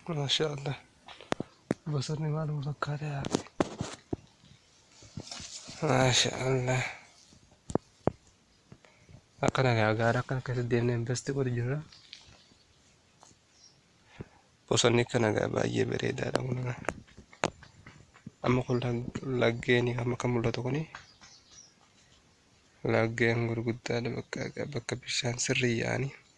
Masha Allah. Bosonni maaluma fakkaata yaa Rabbi. Masha Allah. Akkana gaa gaara akkana keessa deemnee investi godhu jirra. Bosonni kana gaa baay'ee bareedaadha kun. Amma kun lag- laggeen amma kan mul'atu kuni laggeen gurguddaadha bakka bakka bishaan sirrii yaa'anii.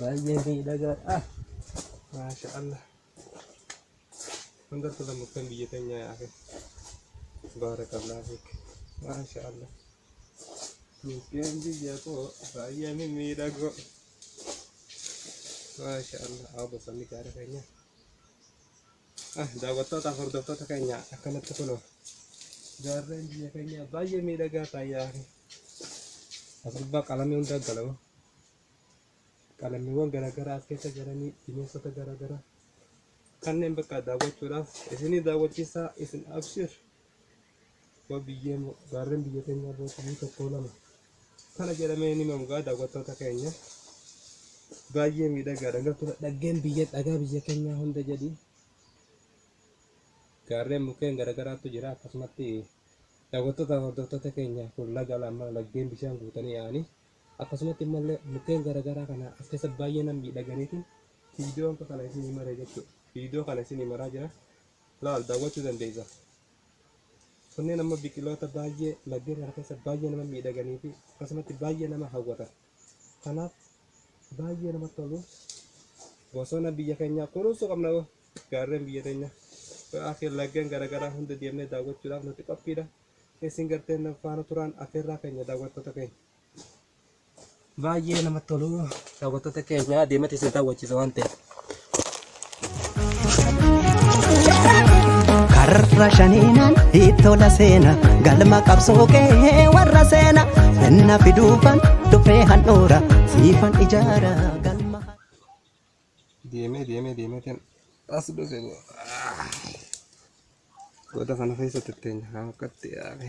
baay'ee miidhagaadha maasha allah hundar kula muktan biyya teenyaa yaafe baarakallah fiik maasha allah mukkeen biyya koo baay'ee mimmiidhagoo maasha allah haa bosanni gaara keenya Daawwattootaaf hordoftoota keenya akkanatti kunoo gaarreen biyya keenyaa baay'ee miidhagaa taayyaa as gubbaa qalamii hundaa galamu qalamiiwwan garaagaraa as keessa jiranii bineensota garaagaraa kanneen bakka daawwachuudhaaf isinii daawwachiisaa isin abshiir Yoo biyyee mo- gaarreen biyya keenyaa booqamuu tokkoo lama kana jedhamee ni himamu gaa daawwattoota keenya baay'ee miidhagaadha gartuu dhaggeen biyya dhagaa biyya keenyaa hunda jedhi gaarreen mukkeen garagaraattu jira akkasumatti daawwattoota hordoftoota keenya kun laga lama laggeen bishaan guutanii yaa'anii akkasumatti immallee mukkeen garagaraa kana as keessa baay'ee nan miidhaganiiti viidiyoon kana isin himaree jechuudha viidiyoo kana isin himaraa jira laal daawwachuu dandeessa. Kunneen ammoo biqiloota baay'ee laggeen kana keessa baay'ee nama miidhaganii fi akkasumatti baay'ee nama hawwatan. Kanaaf baay'ee namatti tolu. Bosona biyya keenyaa kunuunsuu qabna hoo gaarreen biyya teenya. Akka laggeen garaagaraa hunda deemnee daawwachuudhaaf nuti qophiidha. Isin garteen faana turaan affeerraa keenya daawwattoota keenya. Baay'ee namatti tolu daawwattoota keenya deematti isin daawwachiisa waan ta'eef. karra shaniinaan ittola seena galma qabsoo kee warra seena finna fiduufan dhufee handhuura siifan ijaara galma. Deemee deemee deemee kan as dhufe boo. Goda kana keessa tetteenya kan akkatti yaa'e.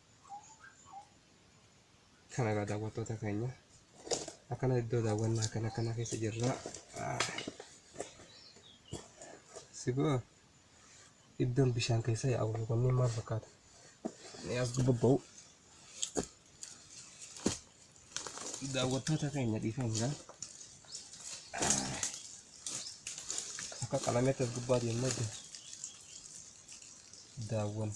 Kana egaa daawwattoota keenya akkana iddoo daawwannaa kana kana keessa jirra. Siboo iddoon bishaan keessa yaa'u kunneen maal fakkaata? Ni as bobba'u. Daawwattoota keenya dhiifamudha. Akka qalameetti as gubbaa deemnee daawwanna.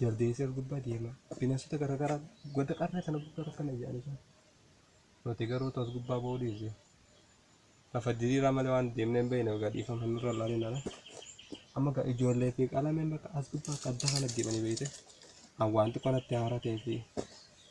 jaldeessi as gubbaa deema bineensota garaagaraa godda qarree kana gubbaa rakkana jedhanii jiru. Nuti garuu tos gubbaa ba'uu dhiise. Lafa diriiraa malee waan deemnee hin beekne egaa dhiifama nurra laalee nana. Amma egaa ijoollee fi qalameen bakka as gubbaa akka adda kana deemanii beekte. An waan xiqqoo natti haaraa ta'ee fi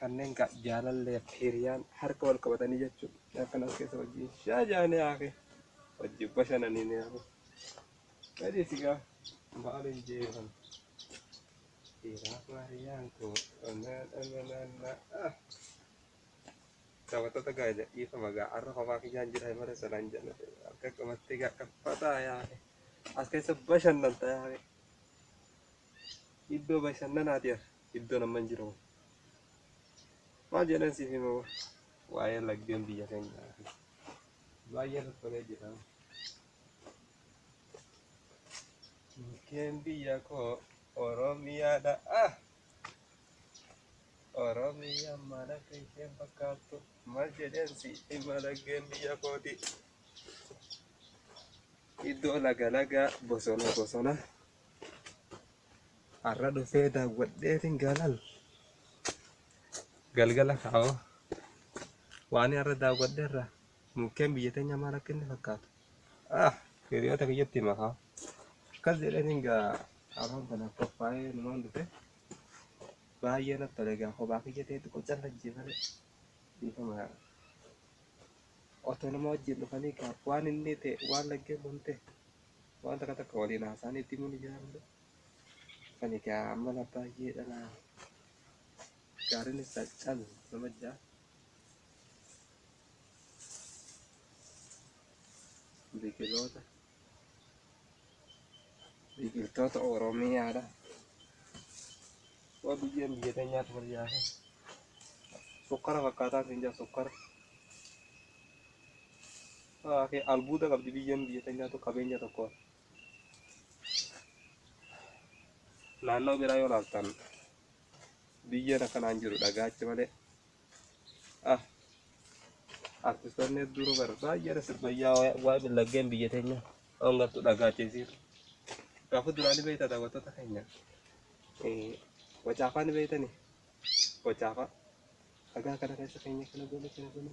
Kanneen gaa jaalallee fi hiriyaan harka wal qabatanii jechuun akkan as keessa wajjin shaa jaanee haake wajjin bashananii ni hafu. Gadi sigaa maaliin jeeran. Dhiiraaf hiriyaan koo onnaa dhanganaa. Taphattoota gaa dhiifama gaa har'a kophaa kiyyaan jira himara sanaan jala harka qabattee gaa dhaffataa yaa'e. As keessa bashannanta yaa'e. Iddoo bashannanaati har'a. iddoon amman jiru maal jedhan siif hima waa'ee laggeen biyya keenyaa fi baay'ee toltolee jira mukkeen biyya koo oromiyaadha ah oromiyaa mana keeteen fakkaattu maal jedhan siif hima laggeen biyya kooti iddoo laga lagaa bosona bosona Har'a dhufee daawwadheetiin galal. Galgala kaa'oo. Waan har'a daawwadhe irraa mukkeen biyya teenya maal akka inni fakkaatu. Ah, hiriyoota kiyyatti hima haa. Akkas jedhaniin gaa afaan kana qophaa'ee numaan dhufe. Baay'ee natti tole gaa kophaa kiyya ta'e xiqqoo callajjii malee. Dhiifama yaa. Otoo nama wajjin dhufanii gaa waan inni ta'e waan laggeen kun ta'e. waan takka takka waliin haasaan itti himuun ni jira malee kan egaa ammala baay'ee dhala gaariin isaa calu nama jaa biqiloota biqiltoota oromiyaadha waa biyyeen biyya teenyaatu wal yaasa sukkara fakkaataa siin jaa sukkara Ke albuuda qabdi biyyoon biyya tanyaatu qabeenya tokko naannoo biraa yoo laaltan biyyoon akkanaan jiru dhagaacha malee ah artistoonni hedduun bar baay'eedha sirbayyaa waa millaggeen biyya teenya ongattu dhagaacheesiir gaafa duraani beekta daawwattoota keenya wacaafaa ni beektani wacaafaa dhagaa kana keessa keenya kana goone kana goone